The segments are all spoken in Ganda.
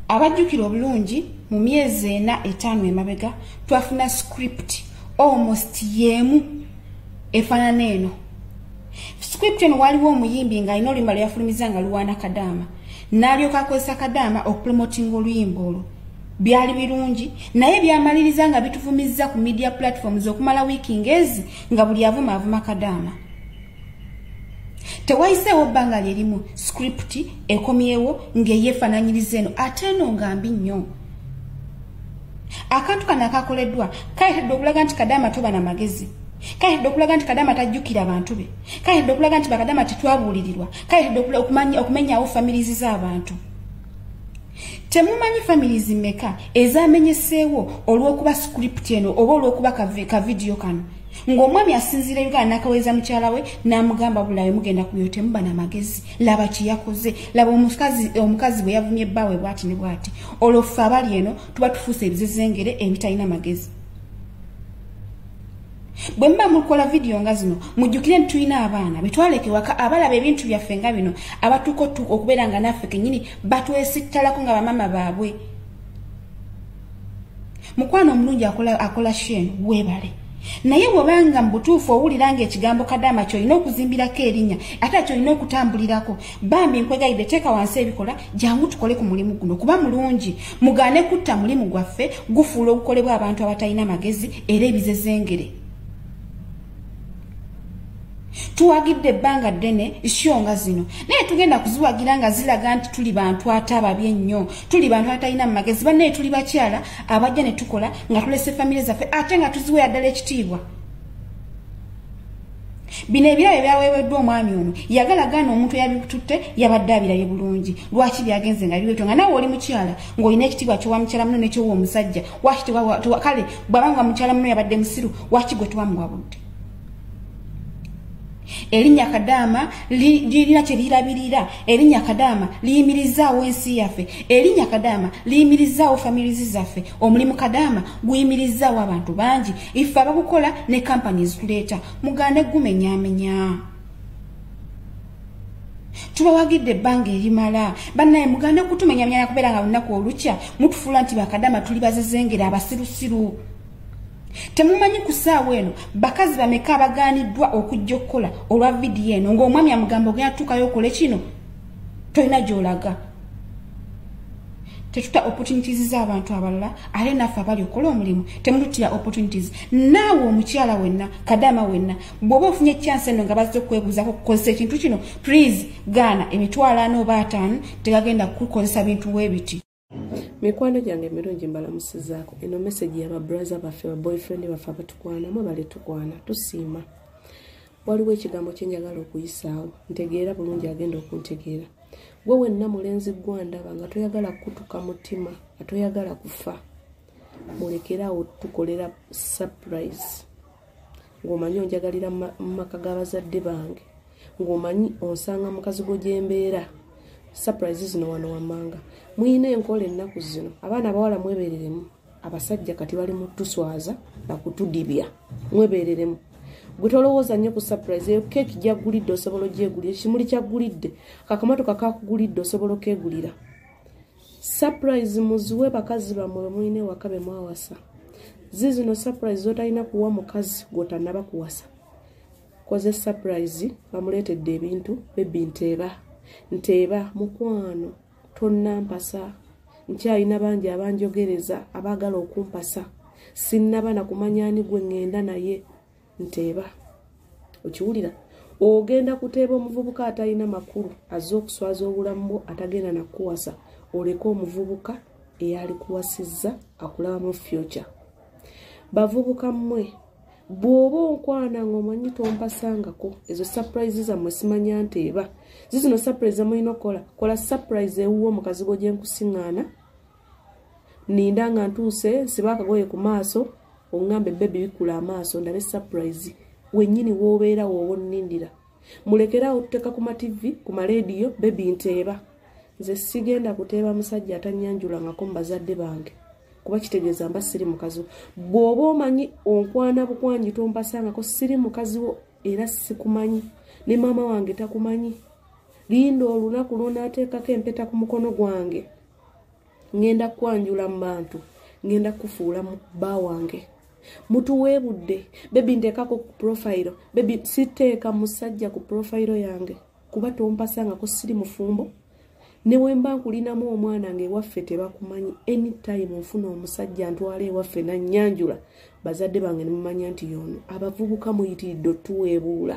abajjukira obulungi mu myezi ena etaano emabega twafuna script almost yeemu efaanana eno script eno waaliwo omuyimbi nga alina oluyimba lwe yafulumiza nga luwaana kadaama n'alyoka akozesa kadaama okupromotinga oluyimba olwo byali birungi naye byamaliriza nga bituvumizza ku media platforms okumala wiiki ngezi nga buli avuma avuma kadaama tewayiseewo bbanga lyerimu script ekomyewo ng'eyeefananyiriza eno ate eno nga mbi nnyo akantu kano akakoleddwa kaletedde okulaga nti kadaama toba na magezi kaletedde okulaga nti kadaama tajjukira abantu be kaletedde okulaga nti bakadaama tetwabuulirirwa kaletedde okumenyawo familizi z'abantu temumanyi families meka ezamenyeseewo olw'okuba script eno oba olw'okuba kavidiyo kano ng'omwami asinziira uganda n'akaweza mukyala we n'amugamba bulayo mugenda kuyo temuba na magezi laba kye yakoze laba omukazi bwe yavumye bbaawe bwati ne bwati olwo ffe abali eno tuba tufuusa ebizezengere ebitalina magezi bwe muba mukola vidiyo nga zino mujjukire nti tulina abaana betwaleke waka abalaba ebintu byaffe nga bino abatuuka otuuka okubeera nga naffe kenyini batwesittalako nga bamaama baabwe mukwano omulungi akola, akola shen webale naye bwobanga mu butuufu owulira nga ekigambo kadaama kyolina okuzimbirako erinnya ate kyolina okutambulirako bambi nkwegayidde teeka wansi ebikola jangu tukole ku mulimu guno kuba mulungi mugaane kutta mulimu gwaffe gufuula ogukolebwa abantu abatalina magezi era ebizezengere tuwagidde ebbanga ddene isyo nga zino naye tugenda kuziwagira nga zilaga nti tuli bantu ate ababi ennyo tuli bantu atalina mu magezi bannaye tuli bakyala abajja ne tukola nga tulese famire zaffe ate nga tuziweera ddala ekitiibwa bino ebirabo ebyaweeweddwa omwami ono yagala gaana omuntu eyabikututte yabadde abirabye bulungi lwaki byagenze nga biwetyo nga nawe oli mukyala ng'olina ekitiibwa kyowa mukyala muno nekyowa omusajja waki kale bwaba nga mukyala muno yabadde musiru waki gwe tuwamuwa budde erinnya kadaama lirina kyelirabirira erinnya kadaama liyimirizaawo ensi yaffe erinnya kadaama liyimirizaawo famirizi zaffe omulimu kadaama guyimirizaawo abantu bangi ife abakukola ne kampani ezituleeta mugane gumenyamenya tubawagidde ebbanga erimala bannaye mugane kutumenyamenya nakubeera nga lunaku olukya mutufuula nti bakadama tuli bazezengera abasirusiru temumanyi ku saawa eno bakazi bameka abaganiddwa okujja okukola olwa vidiyo eno ng'omwami amugamba ogenda tutuukayo okole kino tolina gyolaga tetuta opportunities z'abantu abalala ate naffe abali okola omulimu temututira opportunities naawe omukyala wenna kadama wenna bw'oba ofunye chance eno nga bazze okwebuuzako kukozesa ekintu kino please gaana emitwalo ana oba ataano tegagenda kukukozesa bintu webiti mikwano gyange emirungi mbalamusizaako eno mesegi yaba braza baffe ba boyfriend baffe abatukwana mwe bali tukwana tusiima waliwo ekigambo kyenjagala okuyisaawo ntegeera bulungi agenda okuntegeera gwe wenna mulenzi gwandaba nga toyagala kukutuka mutima nga toyagala kufa mulekere awo tukolera surprise ng'omanyi onjagalira mu maka g'abazadde bange ng'omanyi onsanga mukazi gwo gyembeera surprise zino wano wammanga muyina enkola ennaku zino abaana abawala mwebereremu abasajja kati bali mu tuswaza nakutudibya mwebereremu gwe tolowooza nnyo ku surprise eyo keeki gyaggulidde osobola ogyegulira ekimuli kyaggulidde kakamotoka kakugulidde osobola okegulira surprise muziwe bakazi bamwe mwine wakabe mwawasa zizi no surprise zotalina kuwa mukazi gwotanaba kuwasa koze surprise bamuletedde ebintu bebi nteeba nteeba mukwano tonnampasa nkyalina bangi abanjogereza abaagala okumpasa sinnaba na kumanya ani gwe ŋŋenda naye nteeba okiwulira ogenda kuteeba omuvubuka atalina makulu azze okuswaza obulamu bwo atagenda nakuwasa oleka omuvubuka eyalikuwasizza akulabamu future bavubuka mmwe bw'oba onkwana ng'omanyi tompasangako ezo surprise zammwe simanya nti eba zizino surprise zamulina okukola kola surprise ewuwo omukazi gwo gyenkusiŋŋaana ninda nga ntuuse siba akagoye ku maaso oŋŋambe bebi bikkula amaaso ndabe surprise wennyini w'obeera wooba onnindira mulekeraawo tuteeka ku mativi ku maleediyo bebi nteeba nze sigenda kuteeba musajja atanyanjulangako mu bazadde bange kuba kitegeeza mba siri mukazi wo bw'oba omanyi onkwana bukwanyi tompasangako siri mukazi wo era sikumanyi ne maama wange takumanyi linda olunaku lwonaateekako empeta ku mukono gwange ngenda kwanjula mu bantu ngenda kufuula mu bba wange mutuweebudde bebi nteekako ku profayiro bebi siteeka musajja ku profayiro yange kuba tompasangako siri mufumbo newemba nkulinamu omwana nga ewaffe tebakumanyi anytime nfuna omusajja ntwala ewaffe nanyanjula bazadde bange nemumanya nti yoono abavubuka muyitiridde otuweebuula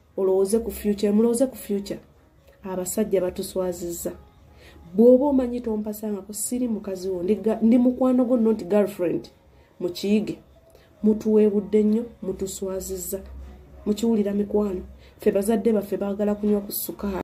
olowooze ku future mulowooze ku future abasajja batuswaziza bwoba omanyi tompasangako siri mukazi wo ndi mukwano gwo not girlfriend mukiyige mutuweebudde nnyo mutuswaziza mukiwulira mikwano ffe bazadde baffe baagala kunywa ku sukaali